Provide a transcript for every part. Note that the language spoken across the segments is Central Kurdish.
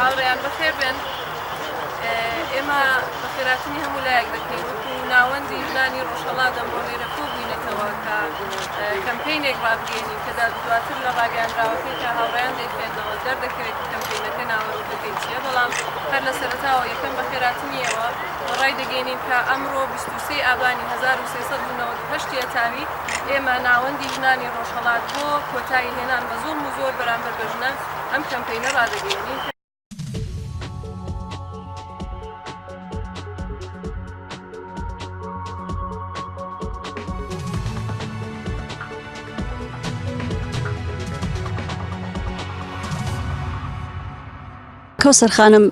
هاوڕێیان بەخێر بێن ئێمە بە خێراتنی هەموو لایەک دەکەین وەکو ناوەندی ژنانی ڕۆژهەڵات ئەم بۆ لێرە کۆ بووینەتەوە کە کەمپینێک ڕابگەینی کە دواتر لە ڕاگەاندراوەکەی کە هاوڕیان دەیخێندەوە دەردەکەوێت کە کەمپینەکە ناوەرۆکەکەی چیە بەڵام هەر لە سەرتاوە یەکەم بە خێراتنیەوە ڕای دەگەینین کە ئەمڕۆ 23 ئابانی 1970 تاوی ئێمە ناوەندی ژنانی ڕۆژهەڵات بۆ کۆتایی هێنان بە زۆڵ و زۆر بەرامبەر بە ژنان ئەم کەمپەینە ڕادەگەیەنین کە کەوسەر خانم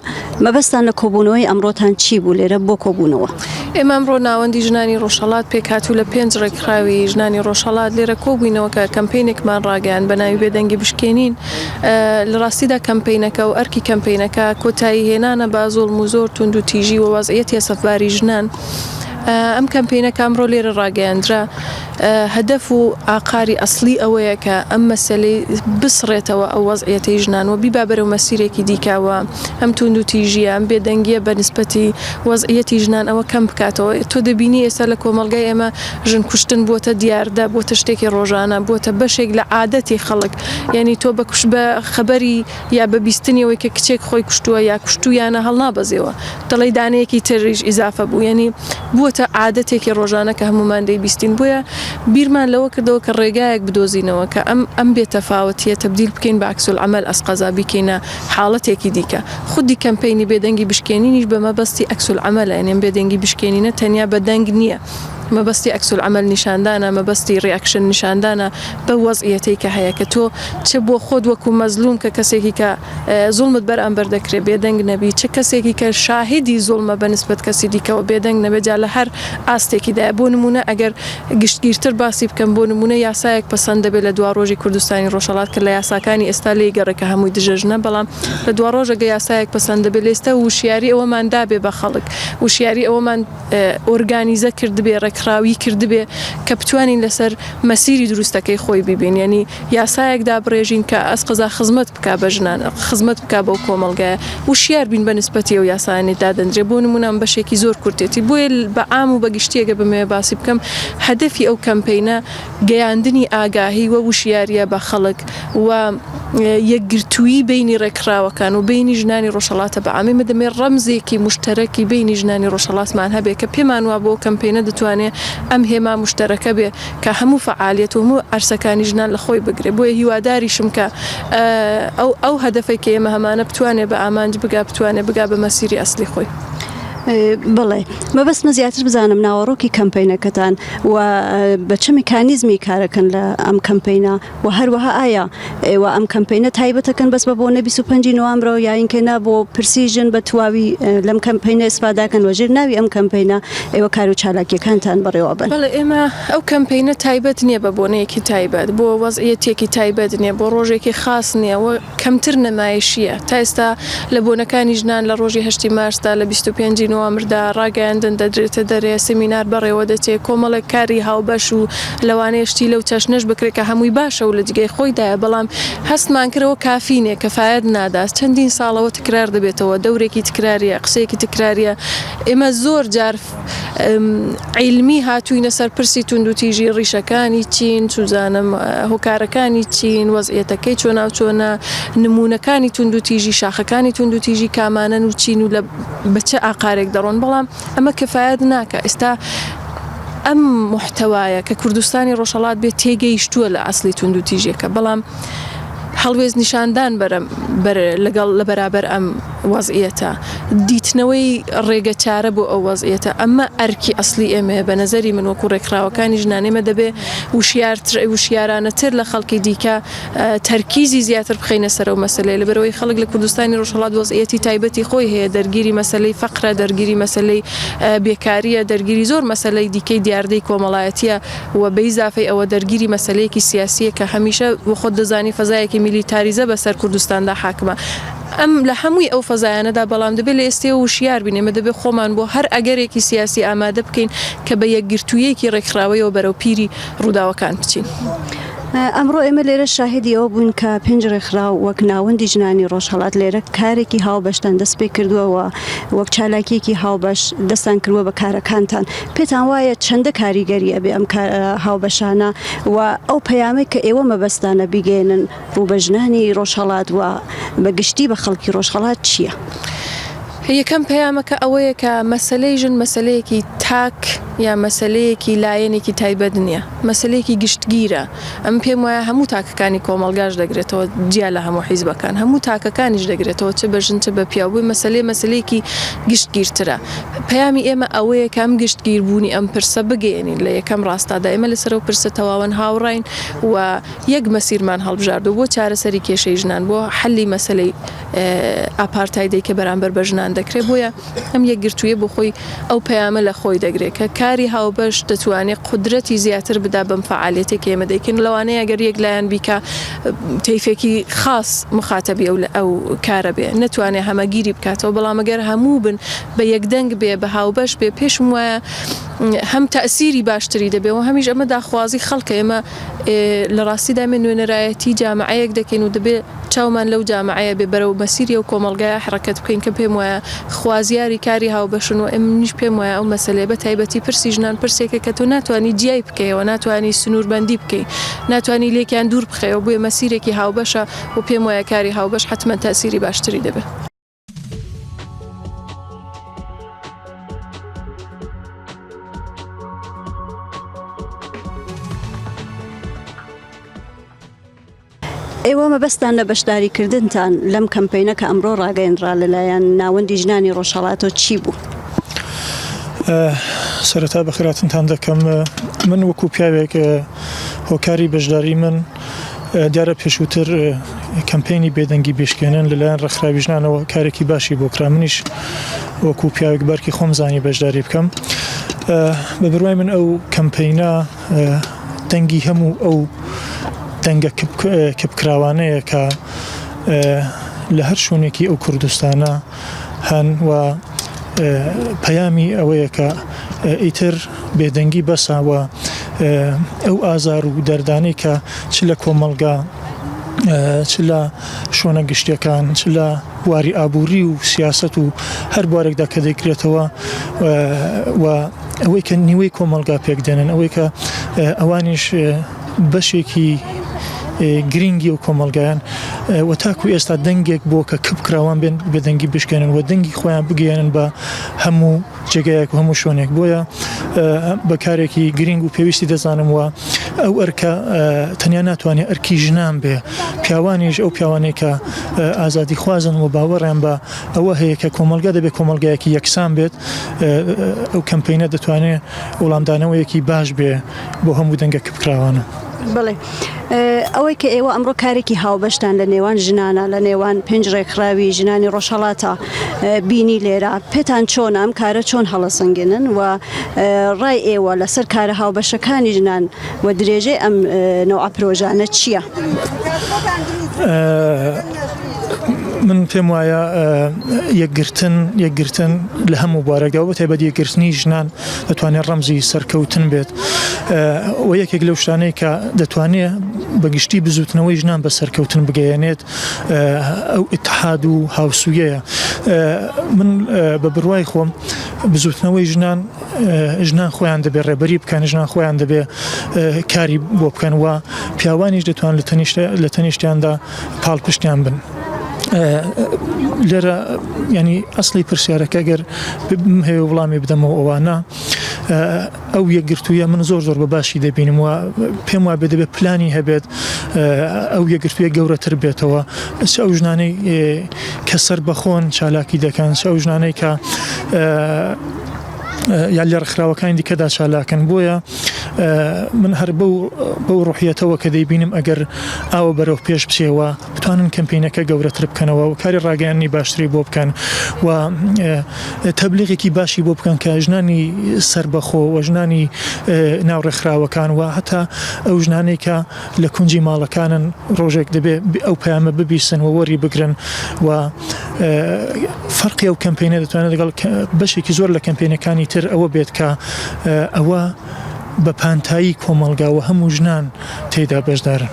مەبەستان لە کۆبوونەوەی ئەمڕۆتان چی بوو لێرە بۆ کۆبوونەوە؟ ئێمە ئەمڕۆ ناوەندی ژنانی ڕۆژهەڵات پێکهات و لە پێنج ڕێکخراوی ژنانی ڕۆژهەڵات لێرە کۆبووینەوە کە کەمپینێکمان ڕاگەیاند بە ناوی بێدەنگی بشکێنین لە ڕاستیدا کەمپینەکە و ئەرکی کەمپینەکە کۆتایی هێنانە بە زۆڵم و زۆر تونند و تیژی وەوازعەتی سەفباری ژنان ئەم کەمپینە کامڕۆ لێرە ڕاگەیاندرا هەدەف و ئاقاری ئەسڵی ئەوەیە کە ئەم مەسەلەی بسڕێتەوە ئەو وەزعیەتەی ژنان و بیبا بەرەو مەسیرێکی دیکە و ئەم توندوتیژییە، ئەم بێدەنگییە بە نیسبەتی وەزعیەتی ژنان ئەوە کەم بکاتەوە. تۆ دەبینی ئێستا لە کۆمەڵگای ئێمە ژن کوشتن بووەتە دیاردە، بووەتە شتێکی ڕۆژانە، بووەتە بەشێک لە عادەتی خەڵک. یانی تۆ بە خەبەری. یا بە بیستنی ئەوەی کە کچێک خۆی کوشتووە یا کوشتوویانە هەڵنابەزێوە دەڵێی دانەیەکی تریش ئیزافە بوو یەنی بووەتە عادەتێکی ڕۆژانە کە هەموومان دەیبیستین بۆیە بیرمان لەوە کردەوە کە ڕێگایەک بدۆزینەوە کە ئەم ئەم بێ تەفاوەتیە تەبدیل بکەین بە عکس العمل ئەس قەزا بیکەینە حاڵەتێکی دیکە خودی کەمپەینی بێدەنگی بشکێنینیش بە مەبەستی عکس العملە یەنی ئەم بێدەنگی بشکێنینە تەنیا بە دەنگ نییە مەبەستی عکس العمل نیشاندانە مەبەستی ڕیاکشن نیشاندانە بەو وەزعیەتەی کە هەیە کە تۆ چ بۆ خۆت وەکو مەزلوم کە کەسێکی کە زوڵمت بەر ئەمبەر دەکرێت بێدەنگ نەبی چ کەسێکی کە شاهیدی زوڵمە بە نسبەت کەسی دیکەوە بێدەنگ نەبێت جا لە هەر ئاستێکیدایە بۆ نمونە ئەگەر گشتگیرتر باسی بکەم بۆ نمونە یاسایەک پەسەند دەبێت لە دواڕۆژی کوردستانی ڕۆژهەڵات کە لە یاساکانی ئێستا لێی گەڕێ کە هەمووی دژە ژنە بەڵام لە دواڕۆژەگە یاسایەک پەسەند دەبێت لێستە وشیاری ئەوەمان دابێ بە خەڵک وشیاری ئەوەمان ئۆرگانیزە کردبێ ڕێکخراوی کردبێ کە بتوانین لەسەر مەسیری دروستەکەی خۆی ببین یعنی یاسایەک دابڕێژین کە ئەس قەزا خزمەت بک بە ژنان خزمەت بک بەو کۆمەلگایە وشیار بین بە نسبەتی و یاسایانی دادەندرێ بۆ نمونام بەشێکی زۆر کورتێتی بۆیە بە ئام و بەگشتیەگە بمێ باسی بکەم هەدەفی ئەو کەمپینە گەیاندنی ئاگاهی و وشیارییە بە خەڵک و یەکگرتوویی بەینی ڕێکخراوەکان و بەینی ژنانی ڕۆژهەڵاتە بە عامی، ئمە دەمێ ڕەمزێکی موشتەرەکی بەینی ژنانی ڕۆژهەڵاتمان هەبێ کە پێمان وابوو ئەو کەمپەینە دەتوانێ ئەم هێما موشتەرەکە بێ کە هەموو فەعالیەت و هەموو عەرسەکانی ژنان لە خۆی بگرێ بۆیە هیواداریشم کە ئەو ئەو هەدەفەی کە ئێمە هەمانە بتوانێ بە ئامانج بگا بتوانێ بگا بە مەسیری ئەسلی خۆی. بڵێ مەبەستمە زیاتر بزانم ناوەڕۆکی کەمپینەکەتان و بە چ میکانیزمی کارەکەن لە ئەم کەمپینە و هەروەها ئایا ئێوە ئەم کەمپینە تایبەتەکەن بەس بە بۆ نە 25 نوامرە و یاینکەنا بۆ پرسی ژن بە تواوی لەم کەمپینە ئسپاداکەن وەژێر ناوی ئەم کەمپینە ئێوە کار و چالاکیەکانتان بڕێوە بن بەڵێ ئێمە ئەو کەمپینە تایبەت نییە بە بۆنەیەکی تایبەت بۆ وەزعەتێکی تایبەت نیە بۆ ڕۆژێکی خاص نییە کەمتر نەمایشییە. تا ئێستا لە بۆنەکانی ژنان لە ڕۆژی هەشتی مارسدا، لە بیست و پێنج ی نوامردا، ڕاگەیاندن دەدرێتە دەرێ، سیمینار بەڕێوە دەچێ، کۆمەڵێک کاری هاوبەش و لەوانەیە شتی لەو چەشنەش بکرێ کە هەمووی باشە و لە جگەی خۆیدایە، بەڵام هەستمان کرد ئەوە کافی نییە، کفایەت نادات. چەندین ساڵەوە تکرار دەبێتەوە، دەورێکی تکرارییە، قسەیەکی تکرارییە. ئێمە زۆر جار. عیلمی هاتووینە سەر پرسی توندوتیژی ڕیشەکانی چین چزانم هۆکارەکانی چین وەزعەتەکەی چۆناو چۆنە نمونونەکانی توندوتیژی شاخەکانی توندوتیژی کامانەن و چین و لە بچە ئاقارێک دەڕۆن بەڵام ئەمە کەفاەت ناکە ئێستا ئەم محتەوایە کە کوردستانی ڕۆژهڵات بێت تێگەیشتووە لە ئەاصلی توندوتیژیەکە بەڵام هەڵوێز نیشاندان بەرە لەگەڵ لە بەرابەر ئەم وەزعیەتە، دیتنەوەی ڕێگە چارە بۆ ئەو وەزعیەتە، ئەمە ئەرکی ئەسڵی ئێمەیە، بە نەزەری من وەکو ڕێکخراوەکانی ژنان ئێمە دەبێ وشیارتر وشیارانەتر لە خەڵکی دیکە تەرکیزی زیاتر بخەینە سەر ئەو مەسەلەیە، لەبەرئەوەی خەڵک لە کوردستانی ڕۆژهەڵات وەزعیەتی تایبەتی خۆی هەیە دەرگیری مەسەلەی فەقرە دەرگیری مەسەلەی بێکاریە دەرگیری زۆر مەسەلەی دیکەی دیاردەی کۆمەڵایەتیە و بەیزافەی ئەوە دەرگیری مەسەلەیەکی سیاسیە کە هەمیشە وەخۆت دەزانی فەزایەکی میلیتاریزە بەسەر کوردستاندا حاکمە. ئەم لە هەمووی ئەو فەزایانەدا، بەڵام دەبێت لە ئێستێوە وشیار بین، ئێمە دەبێت خۆمان بۆ هەر ئەگەرێکی سیاسی ئامادە بکەین کە بە یەکگرتووییەکی ڕێکخراوەیەوە بەرەو پیری ڕووداوەکان بچین. ئەمڕۆ ئێمە لێرە شاهیدی ئەوە بووین کە پێنج ڕێکخراو وەک ناوەندی ژنانی ڕۆژهەڵات لێرە کارێکی هاوبەشتان دەست پێ کردووە و وەک چالاکیەکی هاوبەش دەستان کردووە بە کارەکانتان پێتان وایە چەندە کاریگەری ئەبێ ئەم کار هاوبەشانە و ئەو پەیامێک کە ئێوە مەبەستانە بیگەێنن بۆ بە ژنانی ڕۆژهەڵات و بە گشتی بە خەڵکی ڕۆژهەڵات چییە؟ یەکەم پەیامەکە ئەوەیە کە مەسەلەی ژن مەسەلەیەکی تاک یا مەسەلەیەکی لایەنێکی تایبەت نییە، مەسەلەیەکی گشتگیرە. ئەمن پێم وایە هەموو تاکەکانی کۆمەڵگاش دەگرێتەوە جیا لە هەموو حیزبەکان، هەموو تاکەکانیش دەگرێتەوە چ بە ژن چ بە پیاو بووی مەسەلەی مەسەلەیەکی گشتگیرترە. پەیامی ئێمە ئەوەیە کە ئەم گشتگیربوونی ئەم پرسە بگەیەنین لە یەکەم ڕاستادا ئێمە لەسەر ئەو پرسە تەواوەن هاوڕاین و یەک مەسیرمان هەڵبژاردووە بۆ چارەسەری کێشەی ژنان، بۆ حەلی مەسەلەی ئاپارتایدەی کە بەرامبەر بە ژنان دەکرێت، بۆیە ئەم یەکگرتوویە بۆ خۆی ئەو پەیامە لە خۆی دەگرێت کە کاری هاوبەش دەتوانێت قودرەتی زیاتر بدا بەم فەعالیەتەی کە ئێمە دەیکەین، لەوانەیە گەر یەک لایەن بیکا تەیفێکی خاس مخاتەبی ئەو کارە بێ نەتوانێت هەمەگیری بکاتەوە، بەڵام گەر هەموو بن بە یەکدەنگ بێ بە هاوبەش بێ پێشم وایە هەم تەئسیری باشتری دەبێ و هەمیش ئەمە داخوازی خەڵکە، ئێمە. لە ڕاستیدا ئێمە نوێنەرایەتی جامعەیەک دەکەین و دەبێ چاومان لەو جامعەیە بێ بەرەو مەسیری و کۆمەڵگایە حڕەکەت بکەین کە پێم وایە خوازیاری کاری هاوبەشن و ئەمنیش پێم وایە ئەو مەسەلەیە بە تایبەتی پرسی ژنان پرسێکە کە تۆ ناتوانانی جیای بکەیەوە ناتوانانی سنووربەندی بکەی ناتوانانی لێکیان دوور بخەیەوە بۆیە مەسیرێکی هاوبەشە و پێم وایە کاری هاوبەش حەتمەن تاسیری باشتری دەبێ. ئێوە مەبەستان لە بەشداریکردنتان لەم کەمپینە کە ئەمڕۆ ڕاگەیەنرا لەلایەن ناوەندی ژنانی ڕۆژهڵاتۆ چی بوو؟ سەرەتا بەخراتنتان دەکەم من وەکو پیاوێک هۆکاری بەشداری من دیارە پێشووتر کەمپینی بێدەنگی بشکێنن لەلایەن ڕێکخراوی ژنانەوە کارێکی باشی بۆ کرا منیش وەکو پیاوێک بارکی خۆم زانی بەشداری بکەم بە بروای من ئەو کەمپینە دەنگی هەموو ئەو دەنگە کپکراوانەیە کە لە هەر شوێنێکی ئەو کوردستانە هەن و پەیامی ئەوەیە کە ئیتر بێدەنگی بەسە و ئەو ئازار و دەردانەی کە چ لە کۆمەڵگا چ لە شۆنە گشتیەکان چ لە بواری ئابووری و سیاست و هەر بوارێکدا کە دەکرێتەوە و ئەوەی کە نیوەی کۆمەلگا پێک دێنن ئەوەی کە ئەوانیش بەشێکی گرینگی ئەو کۆمەڵگایەن و تاکو ئێستا دەنگێک بۆ کە کپ کراوان بێن بەدەنگی بشکێنن و دەنگی خۆیان بگەێنن بە هەموو جێگایەک و هەموو شوێنێک بۆیە بەکارێکی گرینگ و پێویستی دەزانم وە ئەو ئەرکە تەنیا ناتوانێت ئەرکی ژنان بێ پیاوانیش ئەو پیاوانێکە ئازادی خوازن و باوەڕیان بە ئەوە هەیە کە کۆمەلگا دەبێت کۆمەلگایەکی یەکسان بێت ئەو کەمپینە دەتوانێت وڵامدانەوەیەکی باش بێ بۆ هەموو دەنگە کپکراوانە. بڵێ ئەوەی کە ئێوە ئەمڕۆ کارێکی هاوبەشتان لە نێوان ژنانە لە نێوان پێنج ڕێکخراوی ژنانی ڕۆژهڵاتە بینی لێرە پێتان چۆن ئەم کارە چۆن هەڵەسەنگێنن و ڕای ئێوە لەسەر کارە هاوبەشەکانی ژنان و درێژەی ئەم نەوە پرۆژانە چییە؟ من پێم وایە یەکگرتن یەکگرتن لە هەموو بارەگەەوە بە تایبەت یەکگرتنی ژنان ئەتوانێ ڕەمزی سەرکەوتن بێت و یەکێک لەو شتانەی کە دەتوانێ بەگشتی بزوتنەوەی ژنان بە سەرکەوتن بگەیەنێت ئەو اتحاد و هاوسویەیە من بە بڕوای خۆم بزوتنەوەی ژنان ژنان خۆیان دەبێت ڕێبەری بکەن ژنان خۆیان دەبێت کاری بۆ بکەن و پیاوانیش دەتوان لە تەنیشت لە تەنیشتیاندا پاڵپشتیان بن. لێرە ینی ئەسلی پرسیارەکە گەر ببم هەیە وڵامی بدەمەوە ئەوانە ئەو یەکگرتوویە من زۆر زۆر بە باشی دەبینم وە پێم وابێ دەبێت پلانی هەبێت ئەو یەکگرتوویە گەورەتر بێتەوە ئەس ئەو ژنانەی کە سەر بەخۆن چالاکی دەکەن ئەو ژنانەی کە یان لە ڕێکخراوەکانی دیکەدا چالاکن بۆیە من هەر بەو بەو ڕوحیەتەوە کە دەیبینم ئەگەر ئاوە بەرەو پێش بچێەوە بتوانن کەمپینەکە گەورەتر بکەنەوە و کاری ڕاگەیاننی باشتری بۆ بکەن و تەبلیغێکی باشی بۆ بکەن کە ژنانی سربەخۆ و ژنانی ناو ڕێکخراوەکان و هەتا ئەو ژنانێکە لە کونجی ماڵەکانن ڕۆژێک دەبێ ئەو پەیامە ببیسن و وەری بگرن و فەرقی ئەو کەمپینە دەتوانێت لەگەڵ بەشێکی زۆر لە کەمپینەکانی تر ئەوە بێت کە ئەوە بە پانتایی کۆمەڵگاوە هەموو ژنان تێدا بەشدارن.